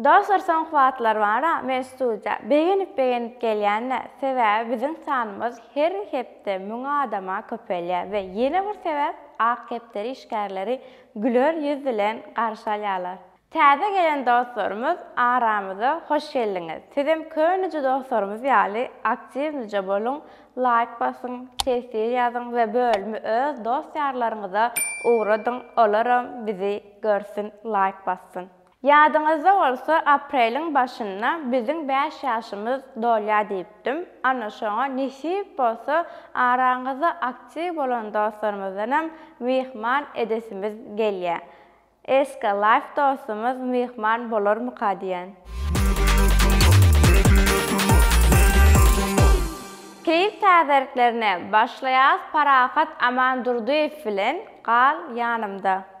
Dostlar soňky wagtlar bar-a men studiýa begenip begenip gelýän-dä sebäbi biziň sanymyz her hepde müň adama köpelýär we ýene bir sebäp ak kepderi işgärleri güler ýüz bilen garşy alýarlar. Täze gelen dostlarymyz aramyza hoş geldiňiz sizem könüje dostlarymyz ýaly aktiwnije boluň laýk basyň tesir ýazyň we bölümi öz dost ýarlaryňyza ugradyň olaram bizi görsün laýk bassyn. Ýadyňyzda bolsa apreliň başynda biziň bäş ýaşymyz dolýa diýipdim, ana şoňa nesip bolsa araňyzda aktiw bolan dostlarymyzdanam myhman edesimiz gelýä. Eska life dostumyz myhman bolarmyka diýän. Keýik täzeliklerine başlaýas Parahat Amandurdyýew bilen Gal ýanymda.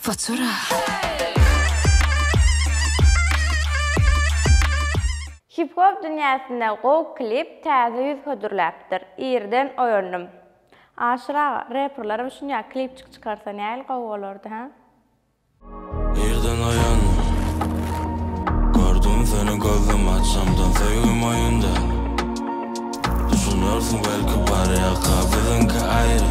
Futura. Hip hop dünýäsinde gowy klip täze ýüz hödürläpdir. Irden oýandym. Aşyr aga, reperlerem şunýa klipçik çykarsa nähili gowy bolardy hä? Irden oýandym. Gördüm seni gözüm açamdan söýgim oýunda. Düşünersiň belki bar ýaka biziňki aýry.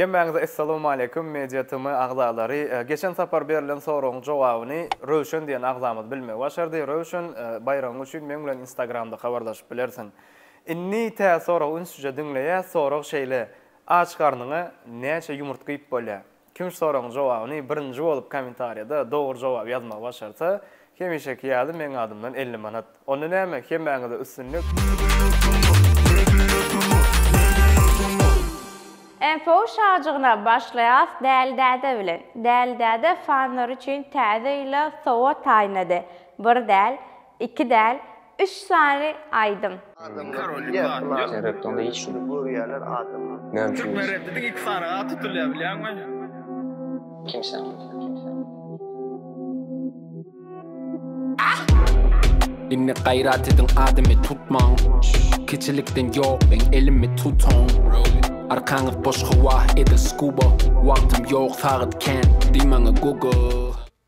Hemmäňize Essalawmaleýkum Media TM agzalary. Geçen sapar berlen soragyň jogabyny Röwşen diýen agzamyz bilmegi başardy. Röwşen, baýragyň üçin meň bilen Instagramda habarlaşyp bilersiň. Indi tä soragy ünsüje diňleýä, sorag şeýle, Aç garnyňa näçe ýumurtga iýip bolýa? Kim soragyň jogabyny birinji bolup kommentariýada dogry jogaby ýazmagy başarsa, hemişeki ýaly meň adymdan elli manat. Onda näme, hemmäňize üstünlik! Info şajygyna başlaýas Däli däde bilen. Däli däde fanlar üçin täze ýyla sowat taýynlady. Bir däl, iki däl, Üç sany aýdym. Indi gaýrat ediň adymy tutmaň Kiçilikden ýok iň elimi tutaň Arkaňyz boş howah edi skuba Wagtym ýok sagat kän diý maňa google.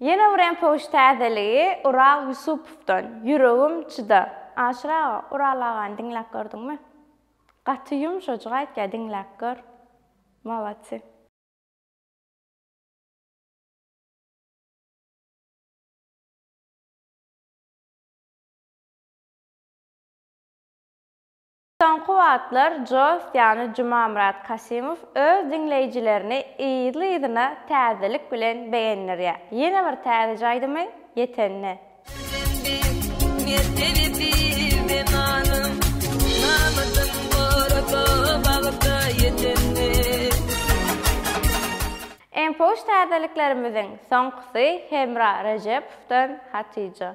Ýene bir MPOş täzeligi Ural Ýusupowdan, Ýüregim çyda. Aşyr aga, Ural agany diňläp gördüňmi? Gaty ýumşajyk aýtýar, diňläp gör. Molodsy. Soňky wagtlar Joss ýany Jumamyrat Kasimow öz diňleýjilerini yzly-yzyna täzelik bilen begendirýär. Ýene bir täzeje aýdymy ýetende. Iň poş täzeliklerimiziň soňkusy Hemra Rejepowdan Hatyja.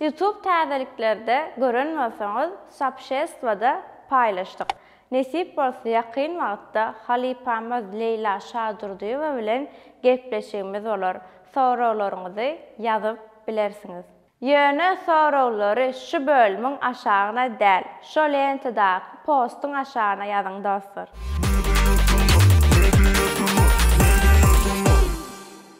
Youtube täzeliklerde gören bolsaňyz sopşestwada paýlaşdyk. Nesip bolsa ýakyn wagtda halypamyz Leýla Şadurdyýewa bilen gepleşigimiz bolar. Soraglaryňyzy ýazyp bilersiňiz. Ýöne soraglary şu bölümiň aşagyna däl, şo lentadaky postuň aşagyna ýazyň dostlar.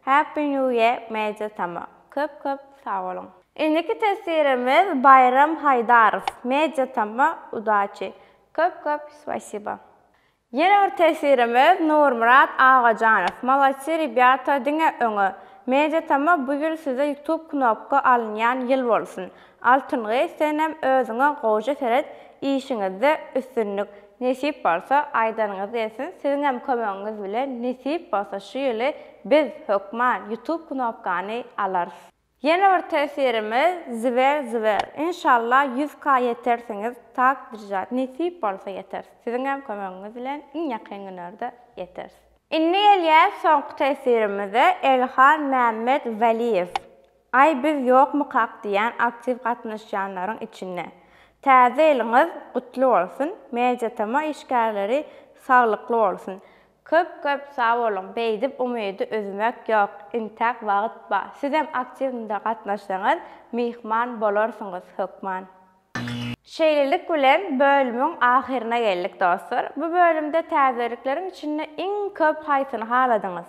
Happy New Year Media Tama köp köp sag boluň. Indiki teswirimiz Baýram Haýdarow Media Tama udaçi köp köp spasiba. Ýene bir teswirimiz Nurmyrat Agajanow Molodsy ribýata diňe öňe Media Tama bu ýyl size ýutub knopka alynýan ýyl bolsun Altyn gyz senem özüňe gowja seret işiňizde üstünlik Nesip bolsa aýdanyňyz gelsin siziňem kömegiňiz bilen nesip bolsa şu ýyly biz hökman ýutub knopkany alarys. Ýene bir tesirimiz Zver zver inşallah ýüz ka ýetersiňiz tak drjat nesip bolsa ýeteris siziňem kömegiňiz bilen iň ýakyn günerde ýeteris. Indi gelýäs soňky tesirimize Elhan Mämmet Waliýew Aý biz ýokmykak diýýän aktiw gatnaşýanlaryň içinde. Täze ýylyňyz gutly bolsun, Mediatema işgärleri saglykly bolsun. Köp köp sag boluň beýdip umydy üzmek ýok intäk wagyt ba sizem aktiwnda gatnaşsaňyz myhman bolarsyňyz hökman. Şeýlelik bilen bölümiň ahyryna geldik dostlar. Bu bölümde täzelikleriň içinde iň köp haýsyny haladyňyz?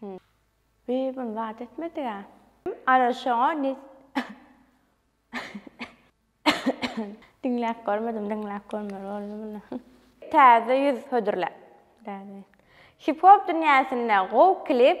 Hum. Bi bun zat etmedigä. Ara şoňa ne Diňläp görmedim, diňläp görmeli boldum indi. Täze ýüz hödürle. Hip-hop dünýäsinde gowy klip.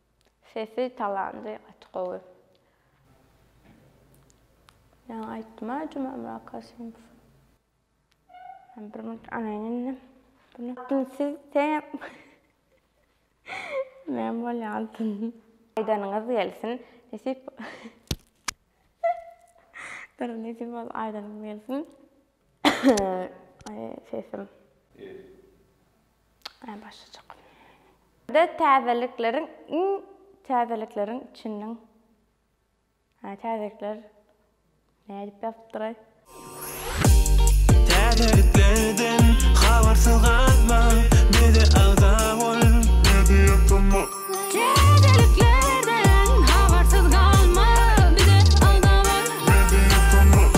Sesi talandy gaty gowy. Ýaňy aýtdyma Jumamyrat Kasimow. Men bir minut alaýyn indi bunu. Indi siz seňem men bolýansyn. Aýdanyňyz gelsin nesip. Dur nesip bolsa aýdanyňyz gelsin. Sesim. Ä başlajak. Tä täzelikleriň iň täzelikleriň içinden. Ä täzelikler. Nädip ýazypdyraý. Täzeliklerden habarsyz galma, bize agza bol. Täzeliklerden habarsyz galma, bize agza bol.